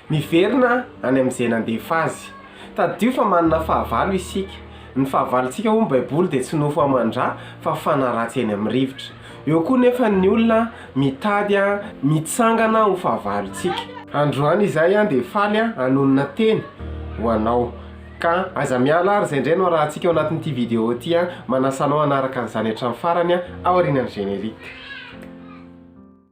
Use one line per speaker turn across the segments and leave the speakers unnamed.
Miverina any amin'izay nandefa azy. Tadidio fa manana fahavalo isika. Ny fahavalontsika hoy ny Baiboly dia tsy nofo aman-dra fa fanaratsy eny amin'ny rivotra. Eo koa nefa ny olona mitady mitsangana ho fahavalontsika. Androany izahay dia faly hanonona teny ho anao. Ka aza miala ary izay indray no arahantsika ao anatin'ity video ity. Manasa anao hanaraka an'izany hatramin'ny farany aho aorianan'ny générique.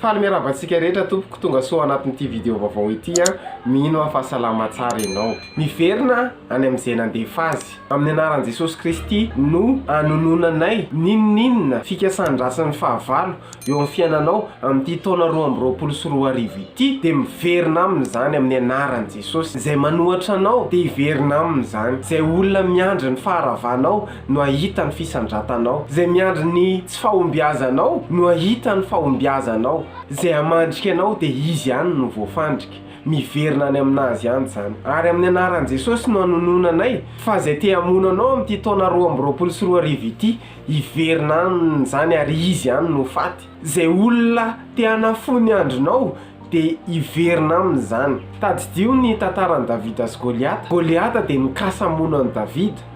Faly miarahaba antsika rehetra tompoko, tongasoa anatin'ity video vaovao ity an! Mino aho fa salama tsara ianao. Miverina any amin'izay nandefa azy. Amin'ny anaran'i Jesosy Kristy no anononanay n'inon'inona fikasan-dratsy ny fahavalo eo amin'ny fiainanao amin'ity taona roa amby roapolo sy roa arivo ity dia miverina aminy izany amin'ny anaran'i Jesosy. Izay manohatra anao dia hiverina aminy izany. Izay olona miandry ny faharavanao no ahita ny fisandratanao. Izay miandry ny tsy fahombiazanao no ahita ny fahombiazanao. Izay hamandrika anao dia izy ihany no voafandrika. Miverina any amin'azy ihany izany. Ary amin'ny anaran'i Jesosy no anonona anay fa izay te hamono anao amin'ity taona roa amby roapolo sy roa arivo ity, hiverina amin'izany ary izy ihany no ho faty. Izay olona te hanafohy ny andronao dia hiverina amin'izany. Tadidio ny tantaran'i Davida sy Goliata. Goliata dia nikasa hamono an'i Davida.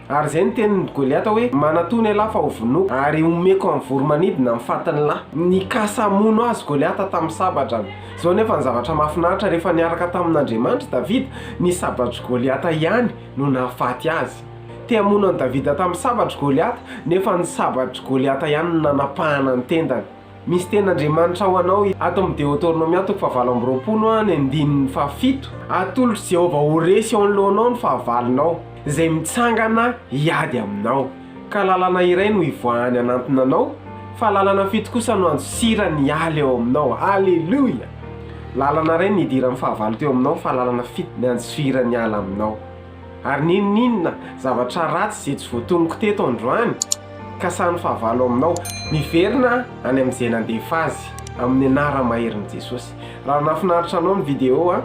Ary izay no tenin'i Goliata hoe, Manatòna ialahy fa hovonoiko, ary homeko amin'ny voro-manidina ny fatin'ny lahy. Nikasa hamono azy Goliata tamin'ny sabadrany. Izao anefa ny zavatra mahafinaritra, rehefa niaraka tamin'Andriamanitra Davida, ny sabatr'i Goliata ihany no nahafaty azy. Te hamono an'i Davida tamin'ny sabatr'i Goliata, nefa ny sabatr'i Goliata ihany no nanapahana ny tendany. Misy tenin'Andriamanitra ho anao ato amin'ny Deoteronomia toko fahavalo amby roapolo, ny andininy fahafito, Atolotr'i Jehovah ho resy eo anoloanao ny fahavalonao, izay mitsangana hiady aminao, ka lalana iray no hivoahany hanantona anao, fa lalana fito kosa no handosirany hiala eo aminao. Aleloia! Lalana iray no hidiran'ny fahavalo teo aminao, fa lalana fito ny handisoirany hiala aminao. Ary n'inon'inona zavatra ratsy izay tsy voatonoko teto androany, ka samy fahavalo aminao. Miverina any amin'izay nandefa azy, amin'ny anara maherin'i Jesosy. Raha nahafinaritra anao ny video a,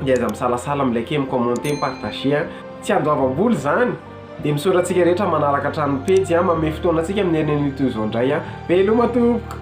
dia aza misalasala mi liker, mi commenter, mi partager a. Tsy andoavam-bola izany, dia misaotra antsika rehetra manaraka hatrany ny pejy a, mamehy fotoana antsika amin'ny herin'anio toy izao indray a. Veloma tompoko.